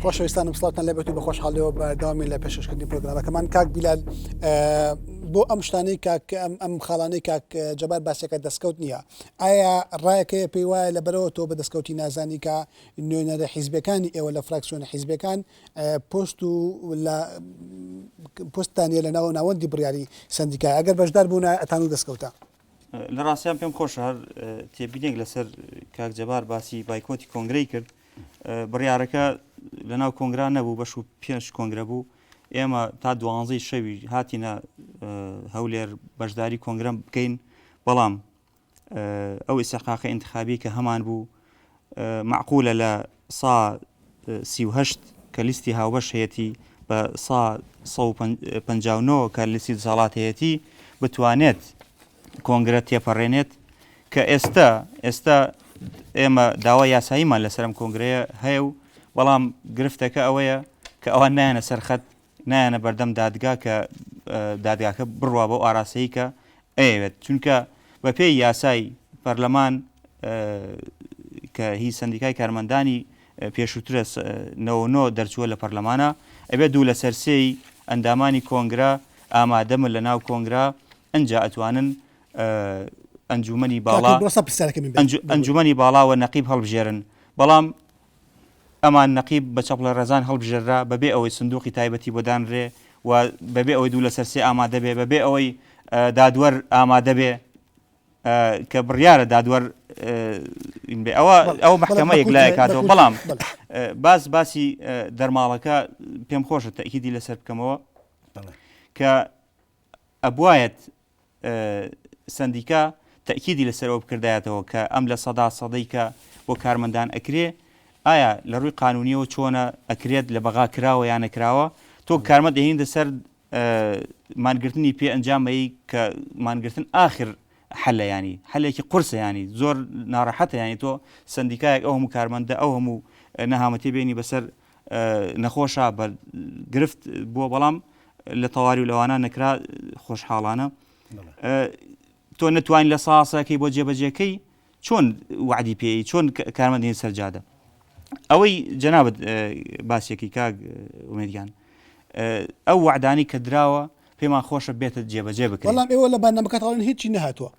خۆشەویستانم سڵاتان لەبێت و بە خۆشحاڵەوە بەداوامی لە پێششکردنی پرۆگرامەکەمان کاک بیلال بۆ ئەم شتانەی کاک ئەم خاڵانەی کاک جەبار باسەکە دەستکەوت نییە ئایا ڕایەکەیە پێی وایە لە بەرەوە تۆ بە دەستکەوتی نازانیکە نوێنەرە حیزبەکانی ئێوە لە فراکسیۆنە حیزبەکان پۆست و لە پۆستتان نیە لە ناوە ناوەندی بڕیاری سەندیکای ئەگەر بەشدار بوونە ئەتانوو دەستکەوتە. لە ڕاستیان پێم خۆشە هەر تێبینێک لەسەر کاک جەبار باسی بایکۆتی کۆنگرەی کرد بڕیارەکە لە ناو کۆنگرا نەبوو بەش و پێنج کۆنگرە بوو ئێمە تا دوانزەی شەوی هاتینە هەولێر بەشداری کۆنگرم بکەین بەڵام ئەو ئیستحقاقە ئینتخابی کە هەمان بوو مەعقولە لە سا سی و هەشت کە لیستی هاوبەش هەیەتی بە سا سە و پەنجا و نۆ کە لیستی دەسەڵات هەیەتی بتوانێت کۆنگرە تێپەڕێنێت کە ئێستا ئێستا ئێمە داوا یاساییمان لەسەرم کۆنگرەیە هەیە و بەڵام گرفتەکە ئەوەیە کە ئەوان نایەنە سەرخەت نایەنە بەردەم دادگا کە دادگاکە بڕوا بەو ئاراستەی کە ئەیەوێت چونکە بە پێی یاسای پەرلەمان کە هی سندیکای کارمەندانی پێشووترە نەوەۆ دەرچووە لە پەرلەمانە ئەبێت دوو لە سەرسێی ئەندامانی کۆنگرا ئامادەمە لە ناو کۆنگرا ئەجا ئەتوانن ئەنجومنی باڵا ئەنجومنی باڵاوە نەقیب هەڵبژێرن بەڵام ئەمان نەقیب بە چەپڵە ڕێزان هەڵبژێررا بەبێ ئەوەی سندووقی تایبەتی بۆ دانرێ و بەبێ ئەوەی دوو لەسەر سێ ئامادە بێ، بەبێ ئەوەی دادوەر ئامادە بێ کە بڕیارە دادوەر ین بێ ئەوە ئەو مەحکەمە یەک لای کاتەوە بەڵام باس باسی دەرماڵەکە پێم خۆشە تەئکیدی لەسەر بکەمەوە کە ئەبوایەت سەندیکا تەکیدی لەسەر ئەوە بکردایەتەوە کە ئەم لە سەدا سەدەی کە بۆ کارمەندان ئەکرێ ئایا لە ڕووی قانونیەوە چۆنە ئەکرێت لە بەغا کراوە یان نەکراوە تۆ کارمە دەهێندە سەر مانگرتنی پێ ئەنجامەی کە مانگرتن آخر حەلە ینی حەلێکی قرسە ینی زۆر ناڕەحەتە ینی تۆ سندیکایەک ئەو هەموو کارمەندە ئەو هەموو نەهامەتی بێنی بەسەر نەخۆشە بە گرفت بووە بەڵام لە تەواری و لەوانە نەکرا خۆشحاڵانە تۆ نەتوانین لە ساسەکەی بۆ جێبەجێکەی چۆن وعدی پێی چۆن کارمەندین سەرجادە ئەوەی جەنابەت باسێکی کاک ومێدیان ئەو وعدانی کە دراوە پێمان خۆشە بێتە جێبەجێ بکە بەڵام ئێوە لە بەنامەکەتاڵن هیچی نهاتوە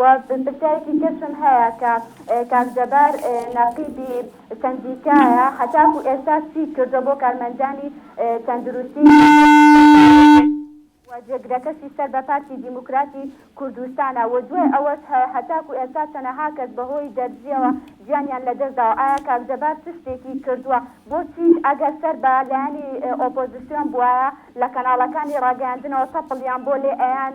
وە پرسیارێکی ترشم هەیە کە کاک جەبار نەقیبی سەندیکایە هەتاکو ئێستا چی کردوە بۆ کارمەندانی تەندروستی لە هەرێمی کوردستان وە جێگرەکەشی سەر بە پارتی دیموکراتی کوردستانە وە دوای ئەوەش هە هەتاکو ئێستا چەنەها کەس بە هۆی دەرزیەوە گیانیان لە دەست داوە ئایا کاک جەبار چ شتێکی کردوە بۆ چی ئەگەر سەر بە لایەنی ئۆپۆزسیۆن بوایە لە کەناڵەکانی ڕاگەیاندنەوە تەپڵیان بۆ لێ ئەیان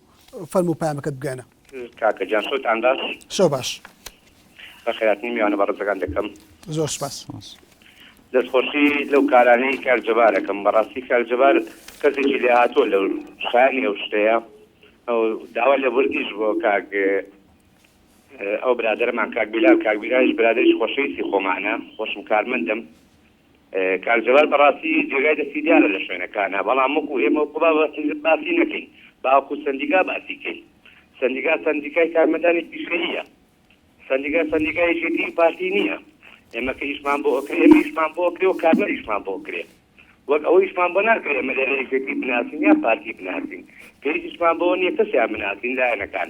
فەرموو پەیامەکەت بگەیەنە. کاکە گیان شەوت ان باش. شەو باش. بە خێراترین میوانە بەڕێزەکان دەکەم. زۆر سوپاس. دەست خۆشی لەو کارانەی کاک جەبار ئەکەم بەڕاستی کاک جەبار کەسێکی لێهاتووە لە شایەنی ئەو شتەیە ئەو داوا لە وردیش بۆ کاک ئەو برادەرەمان کاک بیلال کاک بیلالیش برادەریش خۆشەویستی خۆمانە خۆشم کارمەندم کاک جەلال بەڕاستی جێگای دەستی دیارە لە شوێنەکانا بەڵام وەکو ئێمە وەکو با باسی نەکەین باوەکو سەندیکا باسی کەین سەندیکا سەندیکای کارمەدانی پیشەییە سەندیکا سەندیکا یەکێتی و پارتی نییە ئێمە کە ئیشمان بۆ ئۆکرێ ئێمە ئیشمان بۆ ئۆکرێ و کارمەر ئیشمان بۆ ئۆکرێ وەک ئەوە ئیشمان بۆ ناکرێ ئێمە لێرە یەکێتی بناسین یا پارتی بناسین پێویست ئیشمان بۆ نییە کەسیان بناسین لایەنەکان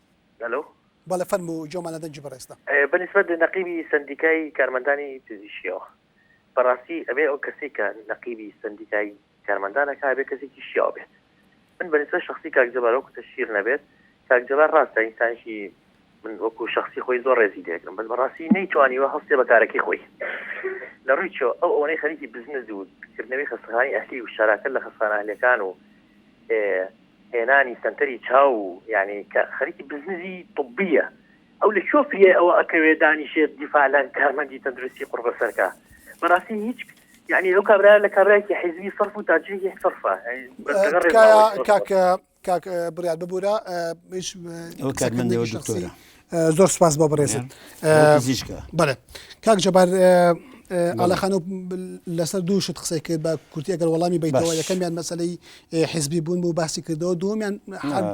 هەلۆ. بەڵێ فەرموو گۆمانە دەنگی بەڕێزتە. بە نیسبەت نەقیبی سەندیکای کارمەندانی پزیشکیەوە بەڕاستی ئەبێ ئەو کەسەی کە نەقیبی سەندیکای کارمەندان ئەکا ئەبێ کەسێکی شیاو بێت من بە نیسبەت شەخسی کاک جەبار وەکو تەشهیر نەبێت کاک جەبار ڕاستە ئینسانێکی من وەکو شەخسی خۆی زۆر ڕێزی لێگرم بەس بەڕاستی نەیتوانیوە هەستێ بە کارەکەی خۆی لە ڕووی چۆ ئەو ئەوەی خەریکی بزنس و کردنەوەی خەستەخانی ئەهلی و شاراکە لە خەستانە ئەهلەکان و هێنانی سەنتەری چاو یانی کە خەریکی بزنزی طبیە ئەو لە چۆ فریای ئەوە ئەکەوێ دانیشێت دیفاالە کارمەندی تەندروستی قڕبە سەرکە بەڕاستی هیچ یعنی ئەو کابرا لە کابراایکی حیزبی صرف و تاجێکی صرفە کاکە کاک بریار ببوورە زۆر سپاس بۆ بەڕێزت پزیشکە بەێ کاک جەبار ئالەخانە لەسەر دوو شت قسەی کرد بە کورتی ئەگەر وەڵامی بیتەوە یەکەمیان مەسلەی حزبی بوون بوو باسی کردەوە دومیان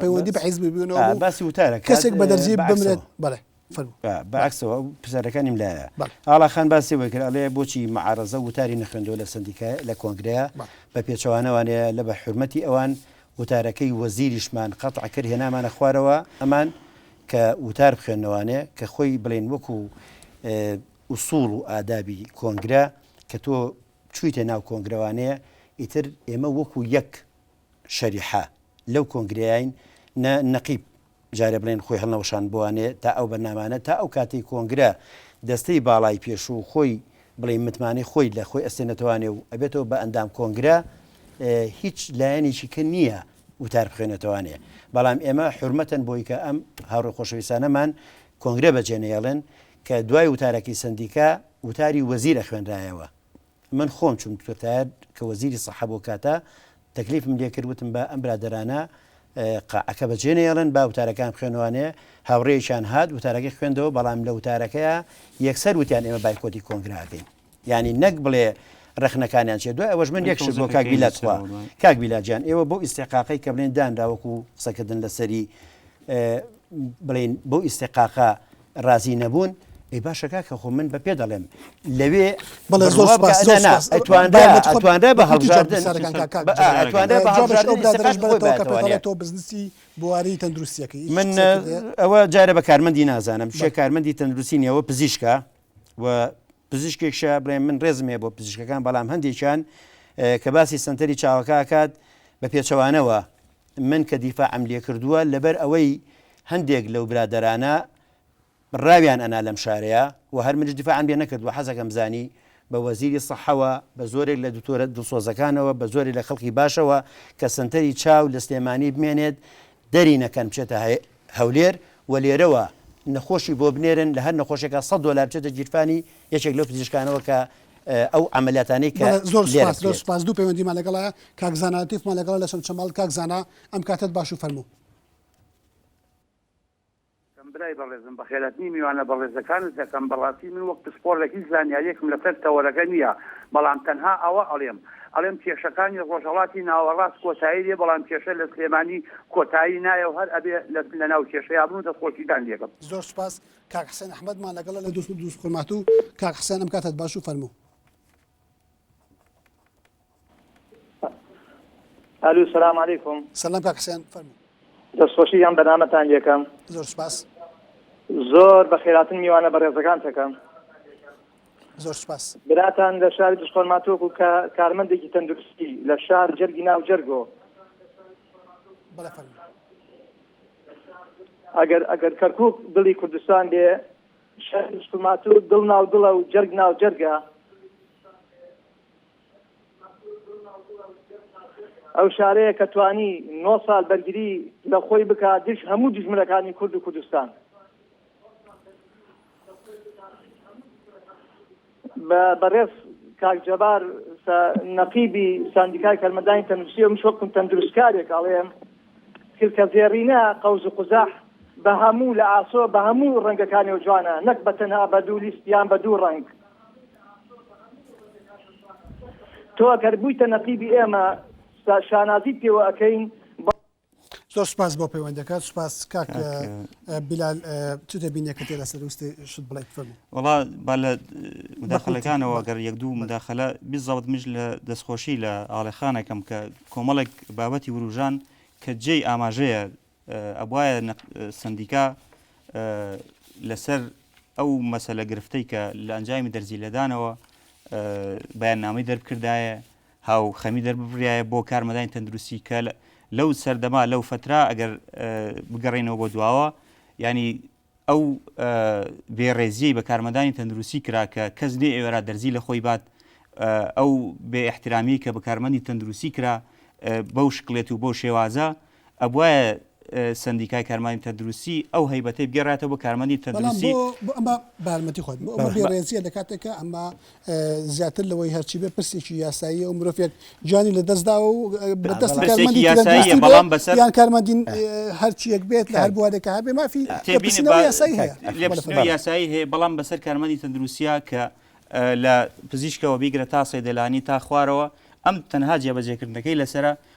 پەیوەندی بە حزبی بوونەوە باسی وتارە کەسێک بە دەرزی بمرێت بەڵێ بەعکسەوە پسەرەکانیم لایە ئاڵاخان باسی وەی کرد ئەڵێ بۆچی معارەزە وتاری نەخوێندەوە لە سندیکای لە کۆنگرەیە بە پێچەوانەوانەیە لە بە حرمەتی ئەوان وتارەکەی وەزیریشمان قەتعکرد هێنامانە خوارەوە ئەمان کە وتار بخوێنەوانێ کە خۆی بڵێن وەکو ئوسوڵ و ئادابی کۆنگرە کە تۆ چویتە ناو کۆنگرەوانەیە ئیتر ئێمە وەکو یەک شەریحە لەو کۆنگریاین نە نەقیب جارێ بڵێن خۆی هەڵنەوەشان بوانێ تا ئەو بەرنامانە تا ئەو کاتی کۆنگرە دەستەی باڵای پێشوو خۆی بڵێ متمانەی خۆی لە خۆی ئەستێنەتەوانێ و ئەبێتەوە بە ئەندام کۆنگرە هیچ لایەنێکی کە نییە وتار بخوێنێتەوانێ بەڵام ئێمە حورمەتەن بۆی کە ئەم هاوڕێ خۆشەویستانەمان کۆنگرە بەجێ نەیەڵێن کە دوای وتارەکەی سەندیکا وتاری وەزیرە خوێنرایەوە من خۆم چوم کورتایەت کە وەزیری سەحە بۆ کاتە تەکلیفم لێکرد وتم بە ئەم برادرانە قەعەکە بەجێ نەیەڵن با وتارەکان خوێنوانێ هاوڕێیشان هات وتارەکەی خوێندەوە بەڵام لە وتارەکەیە یەکسەر وتیان ئێمە بایکۆتی کۆنگراکەین یانی نەک بڵێ ڕەخنەکانیان چێ دوای ئەوەش من یەک شت بۆ کاک بیلا تخوا کاک بیلا جان ئێوە بۆ ئیسیقاقی کە بڵێن دانرا وەکو قسەکردن لەسەری بڵین بۆ ئیسیقاقا ڕازی نەبوون ئەی باشە کاکە خۆ من بە پێ دەڵێم لەوێ بەڵێ زۆر ئەتوانرا بە هەڵبژاردنتوانرا بزنسی بواری تەندروستیەکەی من ئەوە جارە بە کارمەندی نازانم شێ کارمەندی تەندروستی نیەوە پزیشکە و پزیشکێکشە بڵێ من ڕێزم هەیە بۆ پزیشکەکان بەڵام هەندێکیان کە باسی سنتەری چاوەکەکات بە پێچەوانەوە من کە دیفا ئەم لێ کردووە لەبەر ئەوەی هەندێک لەو برادرانە ڕاویان ئەنا لەم شارەیە و هەر منش دیفاعم لێ نەکردووە حەزەکەم زانی بە وەزیری سەحەوە بە زۆرێک لە دکتۆرە دڵسۆزەکانەوە بە زۆری لە خەڵکی باشەوە کە سنتەری چاو لە سلێمانی بمێنێت دەری نەکەن بچێتە هەیە هەولێر و لێرەوە نەخۆشی بۆ بنێرن لە هەر نەخۆشێکا سەد دۆلار بچێتە گیرفانی یەکێک لەو پزیشکانەوە کە ئەو عەمەلیاتانەی کە بەڵێ زۆر لێرە سوپاس زۆر بکرێت. سوپاس دوو پەیوەندیمان لەگەڵایە کاک زانا لەتیفمان لەگەڵە لە چەمچەماڵ کاک زانا ئەم کاتەت باش و فەرموو. سلام برای بەڕێزم بەخێراتنی میوانە بەڕێزەکانت دەکەم بەڕاستی من وەک پسپۆڕێک هیچ زانیاریەکم لەسەر تەوەرەکە نیە بەڵام تەنها ئەوە ئەڵێم ئەڵێم کێشەکانی ڕۆژهەڵاتی ناوەڕاست کۆتایی دێ بەڵام کێشە لە سلێمانی کۆتایی نایە و هەر ئەبێ لە ناو کێشەیا بن و دەستخۆشیتان لێ بم. زۆر سوپاس کاک حسێن ئەحمەد مان لەگەڵە لە دوست دوست خورماتوو کاک حسێنم کاتت باش و فەرموو. ئەلو سلام علیکم. سلام کاک حسێن فەرموو. دەستخۆشی ئەم بەرنامەتان لێ کەم. زۆر سوپاس. زۆر بەخێراتن میوانە بەڕێزەکانتەکەم. زۆر سپاس براتان لە شاری دشخۆرماتۆکو کە کارمەندێکی تەندروستی لە شار جەرگی ناو جەرگۆ ئەگەر ئەگەر کەرکک دڵی کوردستان بێ شارماتۆ دڵ ناو دڵە و جەرگ ناو جەرگە ئەو شارەیە کە توانی 9 سال بەرگری لە خۆی بک دژ هەموو دژمنەکانی کورد و کوردستان بەڕێز کاک جەبار سە نەقیبی ساندیکای کارمەندانی تەندروستی ئەمش وەکم تەندروستکارێک ئەڵێم کلکە زێڕینە قەوز و قوزەح بە هەموو لە ئاسۆ بە هەموو ڕەنگەکانی و جوانە نەک بە تەنها بە دوو لیست یان بە دوو ڕەنگ تۆ ئەگەر بوویتە نەقیبی ئێمە شانازیت پێوە ئەەکەین زۆر سپاس بۆ پەیوەندەکە سپاس کاک بلال چ دەبینێکە تێدا سەروستی شت بڵێ فەرمو وڵا با لە مداخلەکانەوە گەر یەک دوو مداخلە بزەوت مژ لە دەستخۆشی لە ئاڵێخانەکەم کە کۆمەڵێک بابەتی وروژان کە جێی ئاماژەیە ئەبواە سندیکا لەسەر ئەو مەسەلە گرفتەی کە لە ئەنجامی دەرزی لەدانەوە بەیان نامی دەرکردایە هاوخەمی دەرببریایە بۆ کارمەدانی تەندروستی کە لەو سەردەما لەو فترا ئەگەر بگەڕێنەوە بۆ دواوە ینی ئەو بێڕێزیی بە کارمەدانی تەندروستی کرا کە کەس لێ ئێوەرا دەرزی لە خۆی بات ئەو بێ احترامی کە بە کارمەندی تەندروستی کرا بەو شکلێت و بۆ شێوازە ئەبوایە سندیکای کارمانی تەندروستی ئەو هەیبەتەی بگەڕاتەوە بۆ کارمەندی تەندروستی ئەمە بارمەتی خۆت ڕێزیە لە کاتێکە ئەمە زیاتر لەوەی هەرچی بێ پرسێکی یاسایی و مرۆڤێک جانی لە دەستداوە و بەدەست کارمەندی یاسایی بەڵام بەسەر یان کارمەندین هەرچیەک بێت لە هەر بوارێکە هەبێ مافی یاسایی هەیە یاسایی هەیە بەڵام بەسەر کارمەندی تەندروسیە کە لە پزیشکەوە بیگرە تا سەیدەلانی تا خوارەوە ئەم تەنها جێبەجێکردنەکەی لەسرە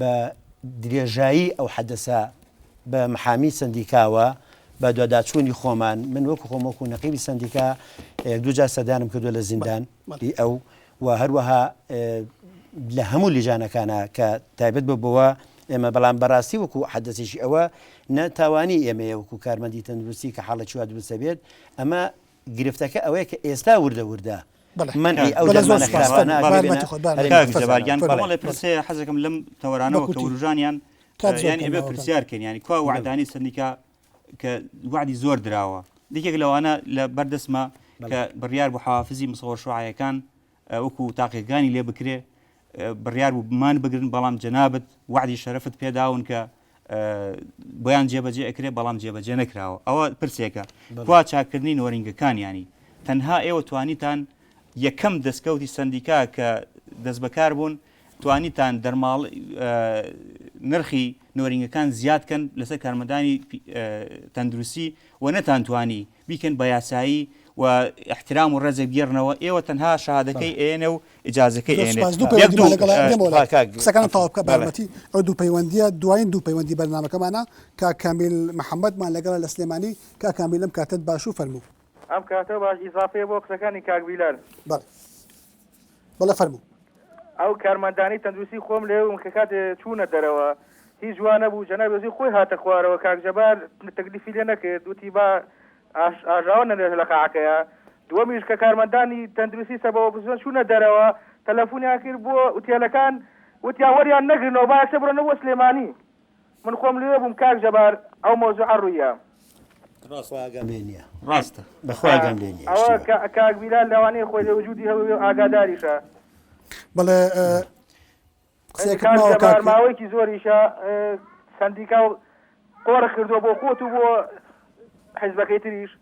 بە درێژایی ئەو حەدەسە بە محامی سەندیکاوە بە دواداچوونی خۆمان من وەکو خۆم وەکو نەقیبی سەندیکا یەک دوو جار سەدانم کردو لە زیندان ئی ئەو و هەروەها لە هەموو لیژانەکانە کە تایبەت بە بۆوە ئێمە بەڵام بەڕاستی وەکو حەدەسێکی ئەوە نە تاوانی ئێمەیە وەکو کارمەندی تەندروستی کە حاڵە چوا دروستە بێت ئەمە گرفتەکە ئەوەیە کە ئێستا وردە وردە مەنعی ئەو دەرمانە خراپانە ئەبێ بێنە کاک جەبار گیان بەڵێ پرسیارێک هەیە حەزەکەم لەم تەوەرانەوە کە ورووژانیان یانی ئەبێ پرسیار کەین یانی کوا وعدانی سەندیکا کە وعدی زۆر دراوە یەکێک لەوانە لە بەردەسمە کە بڕیار بۆ حوافزی مسەوە شوعایەکان وەکو تاقیەکانی لێ بکرێ بڕیار بوو بمان بگرن بەڵام جەنابەت وعدی شەرفت پێداون کە بۆیان جێبەجێ ئەکرێت بەڵام جێبەجێ نەکراوە ئەوە پرسێکە کوا چاکردنی نۆرینگەکانیانی تەنها ئێوە توانیتان یەکەم دەستکەوتی سندیکا کە دەست بەکار بوون توانیتان دەرماڵ نرخی نۆرینگەکان زیادکەن لەسەر کارمەدانی تەندروستی و نەتان توانی بیکەن بە یاسایی و احترام و ڕێزێک بیێڕنەوە ئێوە تەنها شەهادەکەی ئەیەنێ و اجازەکەی ئەیەنێت یەک دوو قسەکانم تەواو بکە بە یارمەتی ئەو دوو پەیوەندیە دوایین دوو پەیوەندی بەرنامەکەمانە کاک کامیل محەمەدمان لەگەڵە لە سلێمانی کاک کامیل ئەم کاتەت باشو فەرموو. ئەم کاتە باش ئیزافەیە بۆ قسەکانی کاک بیلال. بەڵێ. بەڵێ فەرموو. ئەو کارمەندانی تەندروستی خۆم لەوێبوون کە کاتێ چوونە دەرەوە هیچ وا نەبوو جەنابی وەزیر خۆی هاتە خوارەوە کاک جەبار تەکلیفی لێ نەکرد وتی با ئاژاوە نەنێژە لە قاعەکەیە دووەمیش کە کارمەندانی تەندروستی سەبەوە بزن چوونە دەرەوە تەلەفۆنیان کرد بۆ ئوتێلەکان وتیان وەریان نەگرنەوە با یەکسەر بڕۆنەوە سلێمانی من خۆم لوێ بووم کاک جەبار ئەو مەوزوعە ڕوویە. بەخوا ئاگام لێ نیە ڕاستە بەخوا ئاگام لێ نیە ئەوە شتیوە. کە کاک بیلال لەوانەیە خۆی لە وجودی هەببێ و ئاگاداریشە. بەڵێ قسەیەکت کاک ماوە جەبار کاک ماوەیەکی زۆریشە سەندیکا و قۆرخ کردووە بۆ خۆت و بۆ حیزبەکەی تریش.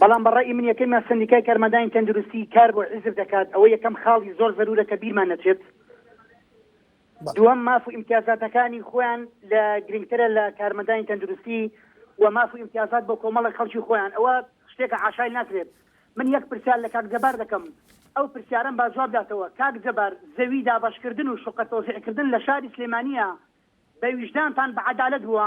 بەڵام بە ڕەئی من یەکەمیان سەندیکای کارمەندانی تەندروستی کار بۆ حیزب دەکات ئەوە یەکەم خاڵی زۆر زەرورە کە بیرمان نەچێت دووەم ماف و ئیمتیازاتەکانی خۆیان لە گرنگترە لە کارمەندانی تەندروستی و ماف و ئیمتیازات بۆ کۆمەڵە خەڵکی خۆیان ئەوە شتێکە عشای ناکرێت من یەک پرسیار لە کاک جەبار دەکەم ئەو پرسیارم با جواب داتەوە کاک جەبار زەوی دابەشکردن و شقە تۆزیعکردن لە شاری سلێمانیە بە ویژدانتان بە عەدالەت بووە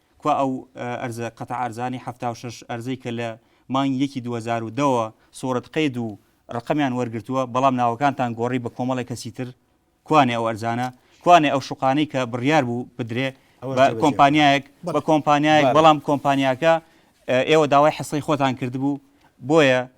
کوا ئەو ئەرزە قەتع ئەرزانەی حەفتا و شەش ئەرزەی کە لە مانگی یەکی دوو هەزار و دە وە سوڕت قەید و ڕەقەمیان وەرگرتووە بەڵام ناوەکانتان گۆڕی بە کۆمەڵێک کەسی تر کوانێ ئەو ئەرزانە کوانێ ئەو شوقانەی کە بڕیار بوو بدرێ بە کۆمپانیایەک بە کۆمپانیایەک بەڵام کۆمپانیاکە ئێوە داوای حصەی خۆتان کردبوو بۆیە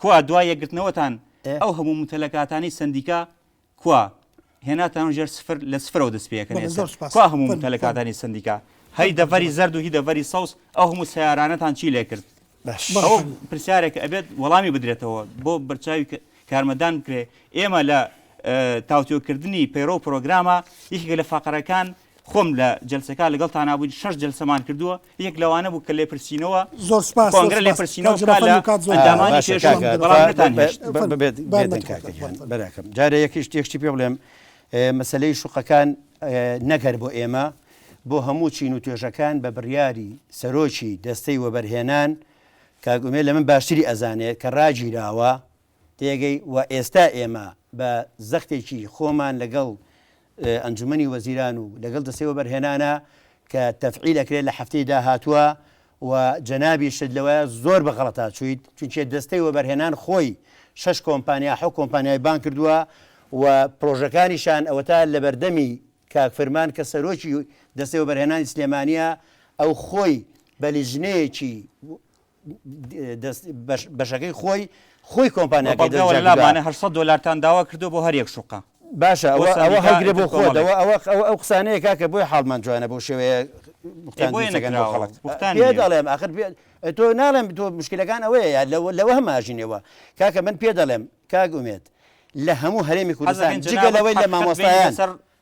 کوا دوای یەکگرتنەوەتان ئەو هەموو متەلەکاتانەی سەندیکا کوا هێناتان ژێر سفر لە سفرەوە دەست پێەکەن کوا هەموو متەلەکاتانی سەندیکا هەی دەڤەری زەرد و هی دەڤەری سەوز ئەو هەموو سیارانەتان چی لێ کرد پرسیارێک ئەبێت وەڵامی بدرێتەوە بۆ بەرچاوی کارمەدان بکرێ ئێمە لە تاوتۆکردنی پەیڕۆ پرۆگرامە یەکێک لە فقرەکان خۆم لە جەلسەکە لەگەڵتانا بووین شەش جەلسەمان کردووە یەک لەوانە بوو کە لێپرسینەوە زۆر سوپاس کۆنگرە لێپرسینەوە بکا لە ئەندامانی پێشوو بەڵام نەتانهێشت ببێت بێدەن کاکە گیان براکەم جارە یەکیش تێکشتی پێ بڵێم مەسلەی شوقەکان نەگەر بۆ ئێمە بۆ هەموو چین و توێژەکان بە بڕیاری سەرۆکی دەستەی وەبەرهێنان کاگومێ لە من باشتری ئەزانێت کە ڕاگیراوە تێگەی و ئێستا ئێمە بە زەختێکی خۆمان لەگەڵ ئەنجومەنی وەزیران و لەگەڵ دەستەی وەبەرهێنانە کە تەفعیل ئەکرێت لە هەفتەی داهاتووە و جەنابیشت لەوەیە زۆر بە غەڵەتا چوویت چونکێ دەستەی وەبەرهێنان خۆی شەش کۆمپانیا حەو کۆمپانیای بان کردووە و پرۆژەکانیشان ئەوەتا لەبەردەمی کاک فرمان کە سەرۆکی دەستەی وەبەرهێنانی سلێمانیە ئەو خۆی بە لیژنەیەکی بەشەکەی خۆی خۆی کۆمپانیاکە دەلامانە هە دلارتان داوا کردو بۆ هەرێک شوقا باشە ئەوە ئەوە هەگرێ بۆ خۆدەوە ئەوە ئەو قسانەیە کاکە بۆی حاڵمان جوانە بۆ شێوەیە دەڵێم ئاخر تۆ ناڵێم تۆ مشکلەکان ئەوەیە لەوە هەماژینەوە کاکە من پێ دەڵێم کاک ئومێت لە هەموو هەرێمی کوردستان جگە لەوەی لە مامۆستایان سەر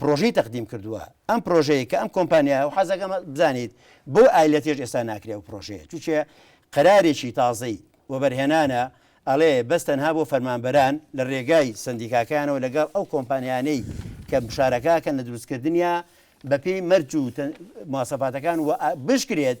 پرۆژەی تەقدیم کردووە ئەم پرۆژەیە کە ئەم کۆمپانیایە و حەزەکەم بزانیت بۆ ئایلەتێش ئێستا ناکرێ ئەو پرۆژەیە چونکێ قەرارێکی تازەی وەبەرهێنانە ئەڵێ بەس تەنها بۆ فەرمانبەران لە رێگای سەندیکاکەیانەوە لەگەڵ ئەو کۆمپانیانەی کە مشارەکاکەن لە دروستکردنیا بەپێی مەرج و مواسەفاتەکان و بشکرێت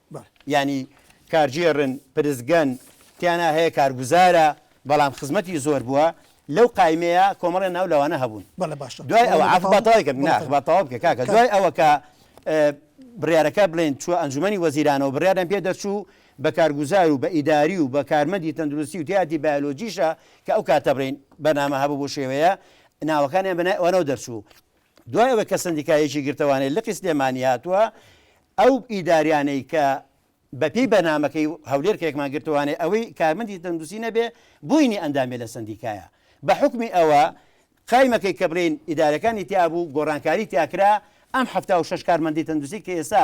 یانی کارگێڕن، پرسگەن، تیانا هەیە کارگوزارە، بەڵام خزمەتی زۆر بووە، لەو قایمەیە کۆمەڵێ ناو لەوانە هەبوون. دوای ئەوە، عەفو با تەواوی کەم، نا با تەواو بکە کاکە، دوای ئەوە کە بڕیارەکە بڵێین چووە ئەنجومەنی وەزیرانەوە بڕیاریان پێ دەرچوو بە کارگوزار و بە ئیداری و بە کارمەندی تەندروستی و تیایەتی بایۆلۆجیشە کە ئەو کاتە بڵێین بەرنامە هەبوو بەو شێوەیە ناوەکانیان بە ناوی ئەوانەوە دەرچوو. دوای ئەوەی کە سەندیکایەکی گرتەوانەی لقی سلێمانی هاتووە، ئەو ئیداریانەی کە بە پێی بەرنامەکەی هەولێر کەێکمان گرتوانەی ئەوەی کارمەندی تەندوسی نەبێ بوینی ئەندامێ لە سەندیکایە بە حکمی ئەوە قایمەکەی کە بڵین ئیدارەکانی تیابوو گۆڕانکاری تیاکرا ئەم ه شش کارمەندی تەندوسی کە ئێسا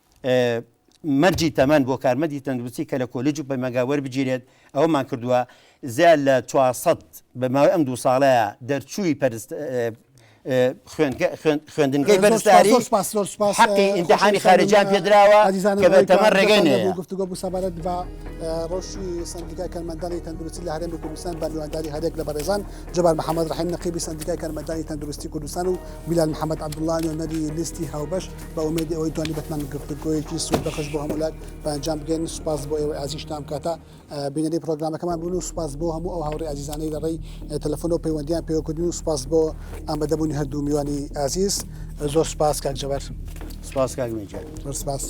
مەرجی تەمەن بۆ کارمەندی تەندروستی کە لە کۆلیج و پەیمانگا وەربگیرێت ئەوەمان کردووە زیاد لە چوار سەد بە ماوەی ئەم دوو ساڵەیە دەرچووی پەرست خوێندنگەی بەرزداری حقی ئینتحانی خارجیان پێدراوە کە بە تەمە ڕێگەی نەیە گفتگۆ بوو سەبارەت بە ڕۆژی سندیکای کەرمەندانی تەندروستی لە هەرێمی کوردستان بە میوانداری هەرێک لە بەڕێزان جبار محەممەد ڕحیم نەقیبی سندیکای کەرمەندانی تەندروستی کوردستان و میلال محەممەد عبدوڵان و نەری لیستی هاوبەش بە ئومێدی ئەوەی توانی بەتمان گفتوگۆیەکی سوود بەخش بۆ هەموولات بەنجام بگەین سوپاس بۆ ئێوە ئازیشتان کاتە بینەری پرۆگرامەکەمان بوون و سوپاس بۆ هەموو ئەو هاوڕی ئازیزانەی لە ڕێی تەلفۆن و پەیوەندیان پێوەکردن و سوپاس بۆ ئامادەبوونی هەردوو میوانی ئازیز زۆر سوپاس کاک جەبەر سوپاس کاک سپاس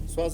سپاس